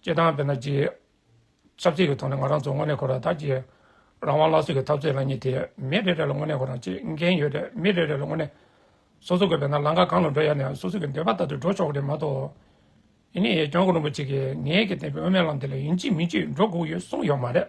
སྤྱི་བཏང་བས་ན་སྤྱི། ཆབ་སྲིད་ཀྱི་ཐོག་ནས་ང་རང་ཚོ་དངོས་གནས་ཁོ་རང་ཐག་བཅད། རང་དབང་སླར་གསོ་གི་འཐབ་རྩོད་ལ་གཉིས་ཏེ་མི་རེ་རེ་ལ་དངོས་གནས་ཁོ་རང་ཆེད་འགན་ཡོད་རེད་མི་རེ་རེ་ལ་དངོས་གནས། སོ་སོ་དགོས་པའི་ན་ལངས་ཀ་གང་ལ་འགྲོ་ཡ་ནས་སོ་སོ་གི་འདོད་པ་ལྟར་དུ་འགྲོ་ཆོག་གི་རེད་མ་གཏོགས། ཨེ་ནི་ཡེ་སྐྱོང་རིན་པོ་ཆེ་གིས་ངེད་ཀྱིས་བསྟན་པའི་དབུ་མའི་ལམ་དེ་ལ་ཡིན་གཅིག་མིན་གཅིག་འགྲོ་དགོས་ཡོད་གསུངས་ཡོད་མ་རེད།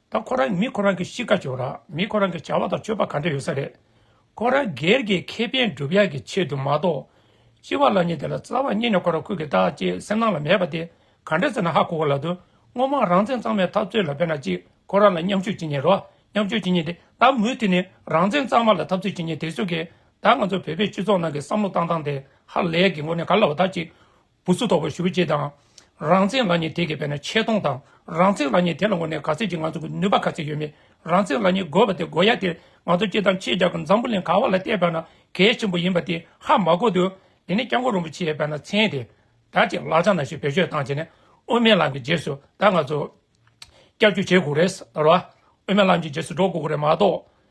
ད་ཁོ་རང་མི་ཁོ་རང་གི་གཤིས་ཀ་བྱུང་རང་མི་ཁོ་རང་གི་བྱ་བ་དང་སྤྱོད་པ་ག་འདྲ་ཡོད་ས་རེད། ཁོ་རང་སྒེར་གྱི་ཁེ་ཕན་སྒྲུབ་ཡག་གི་ཆེད་དུ་མ་གཏོགས། སྤྱི་བ་ལ་ཉིན་དེ་ལ་རྩ་བ་རྙེད་ནས་ཁོ་རང་ཁུར་གི་ད་ཅེས་སེམས་ནང་ལ་མེད་པ་དེ་ག་འདྲ་ཟེར་ན་ཧ་གོ་གོ་ལ་དུ་སྔོན་མ་རང་བཙན་གཙང་མའི་འཐབ་རྩོད་ལ་འབད་ན་ཅིག་ཁོ་རང་ལ་མཉམ་ཞུགས་བྱེད་ཉེན་རོགས་མཉམ་ཞུགས་བྱེད་ཉེན་དེ་ད་མུ་མཐུད་ནས་རང་བཙན་གཙང་མ་ལ་འཐབ་རྩོད་བྱེད་ཉེན་དེ་སུ་གིས་ད་ང་ཚོ་བོད་པའི་སྤྱི་ཚོགས་ནང་གི་བསམ་བློ་བཏང་སྟངས་དེ་ཧ་ལས་གི་ངོ་ནས་ག་ལ་བ་ད་ཅིག་བུ་སུ་དོགས་པར་ཞུ་ཅེས་དང། རང་བཙན་བླ་ཉེ་དེ་གས་པས་ན་ཆེ་མཐོང་དང་རང་བཙན་བླ་ཉེ་དེ་ལ་ངོ་ནས་ག་ཚད་ཅིག་ང་ཚོ་གི་ནུས་པ་ག་ཚད་ཡོད་མེད་རང་བཙན་བླ་ཉེ་དགོས་པ་དེ་དགོས་ཡ་དེ་ང་ཚོ་སྤྱི་དང་ཆེད་བཅའ་གི་འཛམ་བུ་གླིང་ག་བ་ལ་བལྟས་པས་ན་གལ་ཆེན་པོ་ཡིན་པ་དེ་ཧ་མ་གོ་འདུག་དེ་ནས་སྐྱབས་མགོན་རིན་པོ་ཆེས་བས་ན་མཚན་དེ་ད་ཅིག་ལག་ཆ་ན་ཞིག་བེད་སྤྱོད་བཏང་བྱས་ནས་དབུ་མའི་ལམ་གི་རྗེས་སུ་ད་ང་ཚོ་སྐྱབས་བཅོལ་བྱེད་དགོས་རེད་ཟེར་བ། དབུ་མའི་ལམ་གྱི་རྗེས་སུ་འགྲོ་དགོས་རེད་མ་གཏོགས།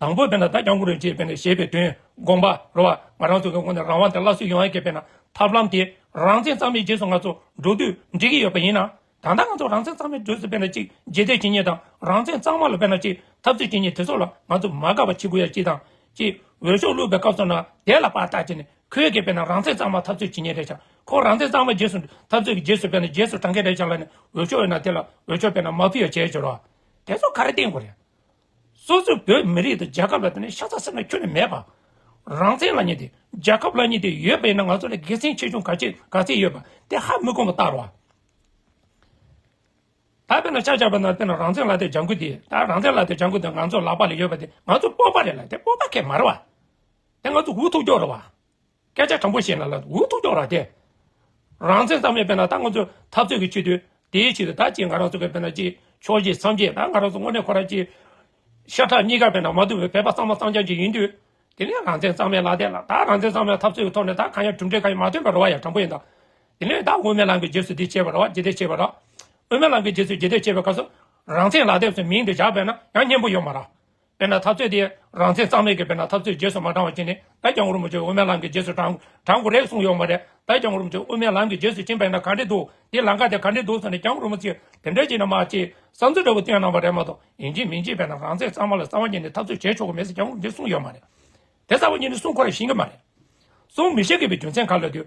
དང་པོའི་དཔེ་ན་བདག་ཀྱང་ཀུན་རིག་ཅེས་པས་ན་ཞེས་པའི་དོན། དགོངས་པ། རོལ་བ། ང་རང་ཚོ་གི་ངོ་ནས་རང་དབང་དེ་སླར་གསོ་ཡོང་ཡ་གི་དཔེ་ན། ཐབས་ལམ་དེ། རང་བཙན་གཙང་མའི་རྗེས་སུ་ང་ཚོ། འགྲོ་དུས། འགྲིག་གི་ཡོད་པ་ཡིན་ན། ད་ལྟ་ང་ཚོ་རང་བཙན་གཙང་མའི་འགྲོས་སུ་དཔེ་ན་གཅིག། རྗེས་འདེད་ཇི་སྙེད་དང། རང་བཙན་གཙང་མ་ལ་དཔེ་ན་གཅིག། འཐབ་རྩོད་ཇི་སྙེད་དེ་ཚོ་ལ། ང་ཚོ་མ་དགའ་བ་བྱེད་དགོས་ཡ་གཅིག་དང། གཅིག། འོས་ཤོག་བླུགས་པའི་སྐབས་སོགས་ན། དེ་ལ་པར་བཏགས་བྱས་ནས། ཁོའི་གི་དཔེ་ན་རང་བཙན་གཙང་མ་འཐབ་རྩོད་ཇི་སྙེད་རེད་བྱ། ཁོ་རང་བཙན་གཙང་མ་རྗེས་སུ། འཐབ་རྩོད་ཀྱི་རྗེས་སུ་དཔེ་ན་རྗེས་སུ་འབྲང་གི་རེད་བྱ་ལ་ནི། འོས་ཤོག་ཡོད་ན་དེ་ལ། འོས་ཤོག་དཔེ་ན་མ་ཕུལ་ཡ་བྱས་བྱས་རོགས། དེ་ཚོ་ག་རེ་བསྟན་དགོས་རེད། སོ་སོའི་བོད་མི་རིགས་དང་རྒྱལ་ཁབ་ལ་བརྟེན་ནས་ཤ་ཚ་སེམས་ལ་ཁྱོན་ནས་མེད་པ། རང་བཙན་ལ་བསྙད་དེ་རྒྱལ་ཁབ་ལ་བསྙད་དེ་ཡོད་པ་ཡིན་ན་ང་ཚོ་ལ་དགེ་མཚན་ཆེ་ཆུང་ག་ཅི་ག་ཚད་ཡོད་པ་དེ་ཧ་མི་གོ་བ་ལྟར་རོ། ད་བོད་ལ་ཤ་རྒྱག་པ་ན་བསྟན་ན་རང་བཙན་ལག་དེབ་ལྗང་ཁུ་དེ་ད་རང་བཙན་ལག་དེབ་ལྗང་ཁུ་དེ་ང་ཚོ་ལག་པ་ལ་ཡོད་པ་དེ་ང་ཚོ་སྤོབས་པ་རེད་ལ་དེ་སྤོབས་པ་ཁེ་མ་རེད་བ། དེ་ང་ཚོ་འུ་ཐུག་རྒྱོགས་རེད་བ། སྐད་ཆ་དྲང་པོ་བཤད་ན་ལ་འུ་ཐུག་ཀྱང་རག་སྟེ། རང་བཙན་གཙང་མའི་དཔེ་ན་ད་ང་ཚོ་འཐབ་རྩོད་ཀྱི་ཆེད་དུ། དེའི་ཆེད་དུ་ད་ཅིག་ང་རང་ཚོ་གི་དཔེ་ན་ཅིག་ཕྱོགས་ཞེས་སམ་ཅིག་ད་ང་རང་ཚོ་དངོས་གནས་ཁོ་རང་ཅིག། ཤ་ཁྲག་གཉིས་ཀ་དཔེ་ན་མ་ཐུབ་པའི་བོད་པ་གཙང་མ་གཙང་རྐྱང་ཅིག་ཡིན་དུས། དེ་ནས་རང་བཙན་གཙང་མའི་ལག་དེད་ལ་ད་རང་བཙན་གཙང་མའི་འཐབ་རྩོད་ཀྱི་ཐོག་ནས་ད་གང་ཡང་གྲུབ་འབྲས་གང་ཡང་མ་ཐོན་པར་རོ་བ་ཡང་དྲང་པོ་ཡིན་ད། དེ་ནས་ད་དབུ་མའི་ལམ་གྱི་རྗེས་སུ་འདི་བྱས་པར་རོ་བ་ཇི་ལྟས་བྱས་པར་རོ། དབུ་མའི་ལམ་གྱི་རྗེས་སུ་ཇི་ལྟས་བྱས་པའི་སྐབས་སུ། རང་བཙན་ལག་དེབ་སུ་མིང་དེ་བཞག་པས་ན་ཡང་སྙན་པོ་ཡོད་མ་རག། དཔེར་ན་འཐབ་རྩོད་དེ་རང་བཙན་གཙང་མའི་གི་དཔེར་ན་འཐབ་རྩོད་རྗེས་སུ་མ་འབྲང་བ་བྱིན་ནས་ད་རྒྱ་ངོར་མོ་ཆོས་དབུ་མའི་ལམ་གི་རྗེས་སུ་འབྲང་འབྲང་དགོས་རེད་གསུངས་ཡོག་མ་རེད་ད་རྒྱ་ངོར་མོ་ཆོས་དབུ་མའི་ལམ་གི་རྗེས་སུ་ཕྱིན་པས་ན་ག་འདྲེ་འདུག་དེ་ལང་ཀ་དེ་ག་འདྲེ་འདུག་སོགས་ནས་རྒྱ་ངོར་མོ་ཚིག་དེ་འདྲ་བྱིན་ན་མ་བྱེད་བསམ་ཚུལ་འདྲ་བོ་བཏོན་གནང་བ་རེད་མ་གཏོགས་ཡིན་གྱི་མིན་གྱི་དཔེར་ན་རང་བཙན་གཙང་མ་ལ་རྩ་བ་ཉིད་ནས་འཐབ་རྩོད་བྱེད་ཆོག་གི་མེད་ཟེར་རྒྱ་ངོར་མོ་ཆོས་གསུངས་ཡོག་མ་རེད་དེ་རྩ་བ་ཉིད་ནས་གསུངས་ཁོ་ར་ཞིན་གི་མ་རེད་གསུངས་མི་ཤེས་གི་པའི་རྒྱུ་མཚན་ག་ལ་དུས།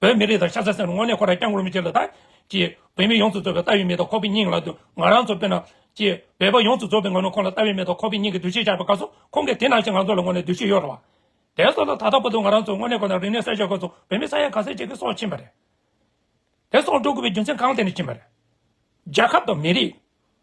བོད་མི་རིགས་དང་ཤ་ཟ་སེམས་ལ་དངོས་གནས་ཁོ་རང་སྐྱབས་མགོན་མི་བྱེད་ལ་ད། ཀྱི། བོད་མི་ཡོངས་སུ་རྫོགས་པའི་ལྟ་བའི་མི་དང་ཁོག་པའི་སྙིང་ལ་དུ། ང་རང་ཚོ་དཔེར་ན། ཀྱི། བོད་པ་ཡོངས་སུ་རྫོགས་པའི་ངོ་ནས་ཁོང་ལ་ལྟ་བའི་མི་དང་ཁོག་པའི་སྙིང་གི་འདུ་ཤེས་བཞག་པ་དགའ་སོང། ཁོང་གིས་དེ་ནང་བཞིན་ང་ཚོ་ལ་དངོས་གནས་འདུ་ཤེས་གཡོ་རུ་བ། དེ་ཚོ་ལ་ད་ལྟ་བར་དུ་ང་རང་ཚོ་དངོས་གནས་ཁོ་ན་རིག་གནས་གསལ་བཤད་དགོས་ཚོ་བོད་མི་ས་ཡ་ག་ཚད་ཅིག་གིས་སྲོག་ཕྱིན་པ་རེད། དེ་སྲོག་འགྲོ་དགོས་པའི་རྒྱུ་མཚན་གང་ཐད་ནས་ཕྱིན་པ་རེད། རྒྱལ་ཁབ་དང་མི་རིགས།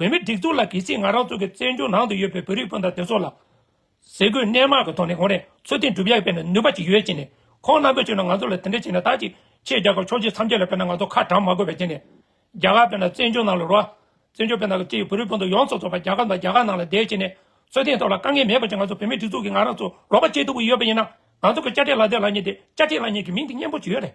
བོད་མི་སྒྲིག་འཛུགས་ལ་གལ་སྲིད་ང་རང་ཚོ་གི་བཙན་བྱོལ་ནང་དུ་ཡོད་པའི་བོད་རིགས་སྤུན་ཟླ་དེ་ཚོ་ལ། ཟས་གོས་གནས་མང་གི་ཐོག་ནས་གོང་རེ་ཚོད་ཐིག་འགྲུབ་ཡག་པའི་ནུས་པ་ཅིག་ཡོད་ཅེས་ནས་ཁོང་རྣམ་པས་བྱོས་ན་ང་ཚོ་ལ་དེ་འདྲ་བྱས་ན་དག་ཅིག་ཆེས་རྒྱ་གར་ཕྱོགས་ཆེ་ཚམས་ཆད་ལ་ཕེབས་ན་ང་ཚོ་ཁ་གྲམ་མ་དགོས་པ་བྱས་ནས། རྒྱ་གར་བོད་ནང་བཙན་བྱོལ་ནང་ལ་རོལ་བ། བཙན་བྱོལ་བོད་ནང་གི་སྤྱི་ཡི་བོད་རིགས་སྤུན་ཟླ་ཡོངས་རྫོགས་ཚོགས་པ་རྒྱ་གར་དང་རྒྱ་གར་ནང་ལ་བསྡད་བྱས་ནས་ཚོད་ཐིག་ཐོག་ལ་དཀའ་ངལ་མེད་པ་ཅིག་ང་ཚོ་བོད་མི་སྒྲིག་འཛུགས་ཀྱི་ང་རང་ཚོ་རོགས་པ་བྱེད་ཐུབ་ཀྱི་ཡོད་པ་ཡིན་ན། ང་ཚོ་གི་དཔྱ་ཁྲལ་ལ་དེ་ལ་ཉེ་དེ་དཔྱ་ཁྲལ་ལ་ཉེ་གི་མིང་དེ་སྙན་པོ་ཅིག་ཡོད་རེད།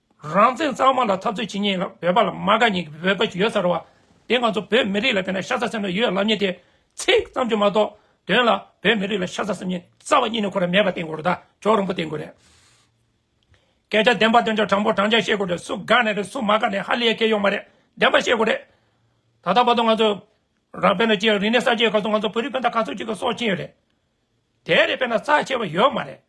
རང་བཙན་གཙང་མ་ལ་འཐབ་རྩོད་བྱེད་ཉེན་ལ་བོད་པ་ལ་མ་དགའ་ཉེན་གྱི་བོད་པ་ཞིག་ཡོད་ས་རེད་བ། དེ་ང་ཚོ་བོད་མི་རིགས་ལ་བལྟས་ན་ཤ་ཚ་སེམས་ལ་ཡོད་ལབ་ཉེན་དེ། ཚིག་ཙམ་གྱིས་མ་གཏོགས། དོན་ལ་བོད་མི་རིགས་ལ་ཤ་ཚ་སེམས་ཉེན་རྩ་བ་གཉིས་ནས་ཁོ་ར་མེད་པ་བསྟན་དགོས་རེད་ད་ཇོ་རིང་པོ་བསྟན་དགོས་རེད། སྐད་ཆ་བདེན་པ་བདེན་ཆ་དྲང་པོ་དྲང་བཞག་བཤད་དགོས་རེད་སུ་དགའ་ནས་རེད་སུ་མ་དགའ་ནས་ཧ་ལས་ཁེ་ཡོང་མ་རེད་བདེན་པ་བཤད་དགོས་རེད། ད་ལྟ་བར་དུ་ང་ཚོ། རང་བལྟས་ན་ཅི་ཡང་རིག་གནས་གསར་བརྗེའི་སྐབས་སུ་ང་ཚོ་བོད་རིགས་བན་དག་ག་ཚོད་ཅིག་གི་སྲོག་བཅིངས་ཡོད་རེད། དེ་རེད་བལྟས་ན་རྩ་ཆེ་བ་ཡོད་མ་རེད།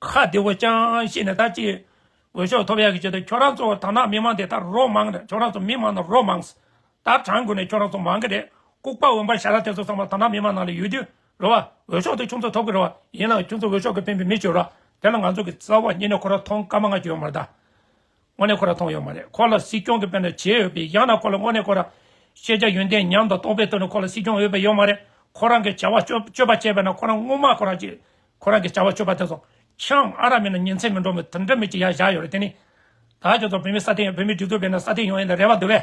ཁ་བདེ་བོ་ཅང་ཤེས་ནས་ད་ཅི། འོས་ཤོག་ཐོབ་ཡག་གི་ཆེད་དུ་ཁྱོད་རང་ཚོ་ད་ནང་མི་མང་དེ་ད་རོགས་མང་རེད་ཁྱོད་རང་ཚོ་མི་མང་ན་རོགས་མང། ད་གྲངས་དགོས་ནས་ཁྱོད་རང་ཚོ་མང་གི་རེད་ལྐུག་པ་འོན་པ་ཞར་ར་དེ་ཚོ་ཚང་མ་ད་ནང་མི་མང་ནང་ལ་ཡོད་དུས་རེད་བ། འོས་ཤོག་དེ་ཁྱོད་ཚོ་ཐོབ་གི་རེད་བ། ཡིན་ལགས་ཁྱོད་ཚོ་འོས་ཤོག་གི་ཕན་པའི་མི་བྱོས་རོགས། དེ་ལ་ང་ཚོ་གི་རྩ་བ་ཉིད་ནས་ཁོ་རང་མཐོང་དཀའ་མ་ང་ཅི་ཡོད་མ་རེད་ད། དངོས་གནས་ཁོ་ར་མཐོང་ཡོད་མ་རེད་ཁོ་ལ་སྲིད་སྐྱོང་གི་དཔེ་ན་བྱེད་འོས་པའི་ཡང་ན་ཁོ་ལ་དངོས་གནས་ཁོ་ར། ཤེས་བྱ་ཡོན་ཏན་ཉམས་དང་སྟོང་པའི་དོན་ནི་ཁོ་ལ་སྲིད་སྐྱོང་འོས་པའི་ཡོད་མ་རེད་ཁོ་རང་གི་བྱ་བ་སྤྱོད་པ་བྱས་པས་ན་ཁོ་རང་དངུལ་མ་ཁོ་ར་ཅིག་ཁོ་རང་གི་བྱ་བ་སྤྱོད་པ་དེ་ཚོ་ཆང་ཨ་ར་མིན་ན་ཉིན་མཚན་མི་འགྲོ་མོད་དུ་འདྲ་མིན་གྱི་ཡ་བཞག་ཡོད་རེད་དེ་ནི། ད་ཁྱོད་ཚོ་བོད་མི་ས་སྟེང་བོད་མི་སྒྲིག་འཛུགས་པས་ན་ས་སྟེང་ཡོང་ཡིན་ན་རེ་བ་འདུག་བས།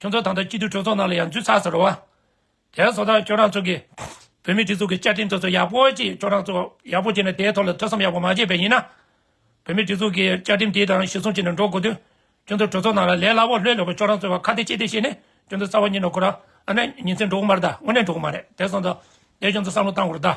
ཁྱོད་ཚོ་དང་ཐོག་སྤྱི་འཐུས་གྲོས་ཚོགས་ནང་ལ་ཡང་འཛུལ་ཚར་ཟེར་རོ། དེའི་བཟོ་ལྟ་ཁྱོད་རང་ཚོ་གི་བོད་མི་སྒྲིག་འཛུགས་ཀྱི་བཅའ་ཁྲིམས་དེ་ཚོ་ཡག་པོ་ཅིག་ཁྱོད་རང་ཚོ་ཡག་པོ་བྱས་ནས་དེའི་ཐོག་ལ་ཐོས་བསམ་ཡག་པོ་མ་བྱས་པས་ཡིན་ན། བོད་མི་སྒྲིག་འཛུགས་ཀྱི་བཅའ་ཁྲིམས་དེ་དང་གཞིར་བཟུང་བྱས་ནས་འགྲོ་དགོས་དུས། ཁྱོད་ཚོ་གྲོས་ཚོགས་ནང་ལ་ལས་སླ་བོ་ལྷོད་ལྷོད་པོ་ཁྱོད་རང་ཚོའི་བར་ཁ་བདེ་ཕྱི་བདེ་བྱས་ནས་ཁྱོད་ཚོ་རྩ་བ་ཉིད་ནས་བསྐོར། ཨ་ནེ། ཉིན་མཚན་འགྲོ་གི་མ་རེད་ད་དངོས་གནས་འགྲོ་གི་མ་རེད་དེ་སོང་ཙང། དེ་ཁྱོད་ཚོ་བསམ་བློ་བཏང་དགོས་རེད་ད།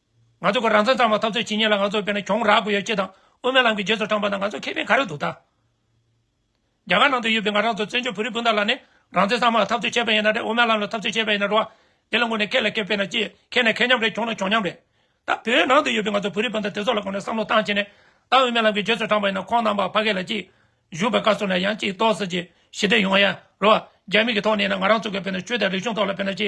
ང་ཚོ་གི་རང་བཙན་གཙང་མ་འཐབ་རྩོད་བྱེད་ཉེས་ལ་ང་ཚོར་དཔེར་ན་གྱོང་རག་དགོས་ཡོད་ཅེས་དང་དབུ་མའི་ལམ་གྱི་རྗེས་སུ་འབྲངས་པ་ན་ང་ཚོར་ཁེ་ཕན་ག་རེ་འདུག་ད། རྒྱ་གར་ནང་དུ་ཡོད་པའི་ང་རང་ཚོ་བཙན་བྱོལ་བོད་རིགས་སྤུན་ཟླ་ལ་ནི་རང་བཙན་གཙང་མ་ལ་འཐབ་རྩོད་བྱས་པ་ཡིན་ན་རེད་དབུ་མའི་ལམ་ལ་འཐབ་རྩོད་བྱས་པ་ཡིན་ན་རེད་བ། དེ་ལ་ངོས་ནས་ཁེ་ལ་ཁེ་དཔེར་ན་ཅི། ཁེ་ནས་ཁེ་མཉམ་རེད་གྱོང་ན་གྱོང་མཉམ་རེད། ད་བོད་ནང་དུ་ཡོད་པའི་ང་ཚོ་བོད་རིགས་སྤུན་ཟླ་དེ་ཚོ་ལ་གོང་ནས་བསམ་བློ་བཏང་བྱས་ནས། ད་དབུ་མའི་ལམ་གྱི་རྗེས་སུ་འབྲངས་པ་ཡིན་ན་ཁོང་རྣམ་པ་ཕ་གི་ལ་གཅིག། བཞུགས་པའི་བཀའ་སྲོལ་ལ་ཡང་གཅིག་གཏོགས་སྲིད་ཀྱི་ཞི་བདེ་ཡོང་ཡ་རེད་བ། རྒྱ་མི་གི་ཐོག་ནས་ཡིན་ན་ང་རང་ཚོ་གི་དཔེར་ན་ཆོས་དང་རིག་གཞུང་ཐོག་ལ་དཔེར་ན་ཅི།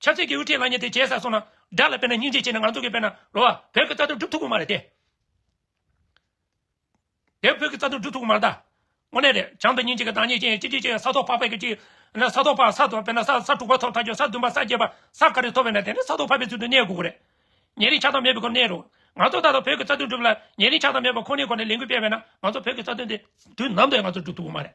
ཆབ་སྲིད་ཀྱི་དབུ་ཁྲིད་ལ་ཉེ་དེ་བྱས་ས་སོང་ན་དགྲ་ལ་དཔེར་ན་སྙིང་རྗེ་བྱས་ནས་ང་ཚོ་གི་དཔེར་ན་ལོ་བ། བོད་ཀྱི་རྩ་དོན་སྒྲུབ་ཐུབ་ཀྱི་མ་རེད་དེ། དེ་བོད་ཀྱི་རྩ་དོན་སྒྲུབ་ཐུབ་ཀྱི་མ་རེད་ད། དངོས་གནས་རེད་བྱང་དུ་སྙིང་རྗེ་གི་བདག་ཉིད་ཅན་གཅིག་གཅིག་བྱས་ས་ཐོག་ཕག་པས་ཀྱི་གཅིག། ན་ས་ཐོག་ཕག་ས་དོ་དཔེར་ན་ས་ས་དྲུག་པ་ཐོབ་ཐག་ཆོད་ས་བདུན་པ་ས་བརྒྱད་པ་ས་ག་རེ་ཐོབ་བས་ན་དེ་ནི་ས་ཐོག་ཕག་པའི་ཚུལ་དུ་གནས་དགོས་ཀྱི་རེད། ཉེ་རིང་ཆགས་སྡང་མེད་པའི་སྒོ་ནས་རེད། ང་ཚོ་ད་ལྟ་བོད་ཀྱི་རྩ་དོན་སྒྲུབ་ལ་ཉེ་རིང་ཆགས་སྡང་མེད་པ་ཁོ་ནའི་སྒོ་ནས་ལས་འགུལ་སྤེལ་བས་ན་ང་ཚོ་བོད་ཀྱི་རྩ་དོན་དེ་དུས་ནམ་དུ་ཡང་ང་ཚོ་སྒྲུབ་ཐུབ་ཀྱི་མ་རེད།